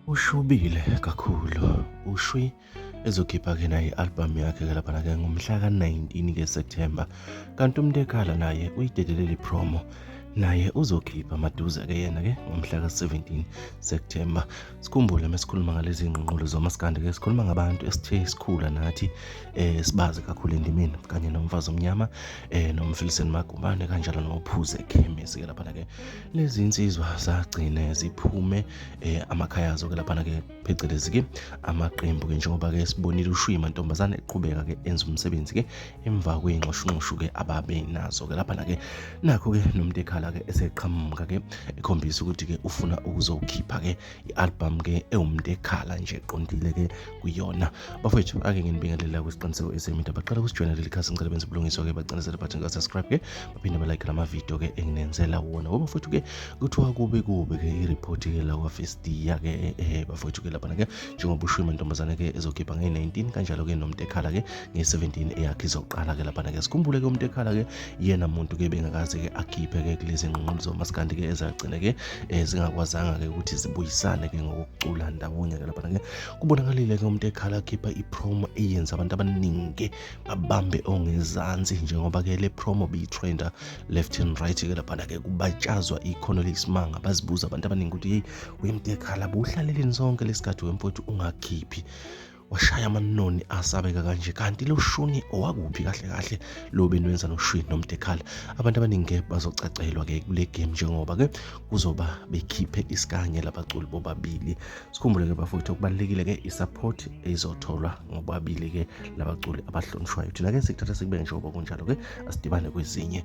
ushubile kakhulu ushwi ezokhipha ke naye i-albhamu yakhe ke laphana ke ngomhla ka-19 ke septemba kanti umuntu ekhala naye uyidedeleli promo naye uzokhipha maduze ke yena ke ngomhla ka-17 septemba sikhumbule mesikhuluma ngalezi ngqinqulo zomasikandi ke sikhuluma ngabantu esithe sikhula nathi um sibazi kakhulu endimeni kanye nomfazi omnyama um eh, nomfiliseni magumbane kanjalo nophuze ekhemisi ke laphana ke lezi nsizwa zagcine ziphume eh, amakhaya azo ke laphana ke phecelezi ke amaqembu ke njengoba ke sibonile ushuyi mantombazane eqhubeka ke enza umsebenzi ke emva kweyinxoshunxoshu ke ababe nazo ke laphana ke nakho ke nomuntu ekhala ke eseqhamuka ke ekhombisa ukuthi ke ufuna ukuzokhipha ke i-albhamu ke ewumuntu ekhala nje qondile ke kuyona bafowethu ake nginibingelela kwisiqiniseko esemida baqala kusijoyina leli khasi ngicela benza ubulungiswa ke bacinisele bathi ngasubscribe ke baphinde balike lamavidiyo ke enginenzela wona ngoba futhi ke kuthiwa kube kube ke i-report ke la kwafestiya ke eh, eh, bafowethu ke laphana ke njengoba ushiwe mantombazane ke ezokhipha nge-19 kanjalo ke nomuntu ekhala ke nge-17 eyakhe izoqala ke laphana ke sikhumbule ke umuntu ekhala ke yena muntu ke bengakaze ke akhiphe ke kulezi nqunqulu zomaskandi ke ezagcina ke eh, zingakwazanga ke ukuthi zibuyisane ke ngokucula ndawonye ke lapha ke kubonakalile ke umuntu ekhala akhipha ipromo eyenza abantu abaningi babambe ongezansi njengoba ke le promo biyitrenda left and right ke lapha ke kubatshazwa ikhono lesimanga bazibuza abantu abaningi ukuthi hey wemtekhala buhlaleleni sonke lesikhathi wemfowethu ungakhiphi washaya amanoni asabeka kanje kanti lo shuni owakuphi kahle kahle lo benwenza noshwini nomdekhala abantu abaningi bazocacelwa ke kule game njengoba ke kuzoba bekhiphe isikanye labaculi bobabili sikhumbule ke bafowethu okubalekile ke isupport ezotholwa ngobabili ke labaculi abahlonishwayo thina ke sikuthatha sikubeke njengoba kunjalo ke asidibane kwezinye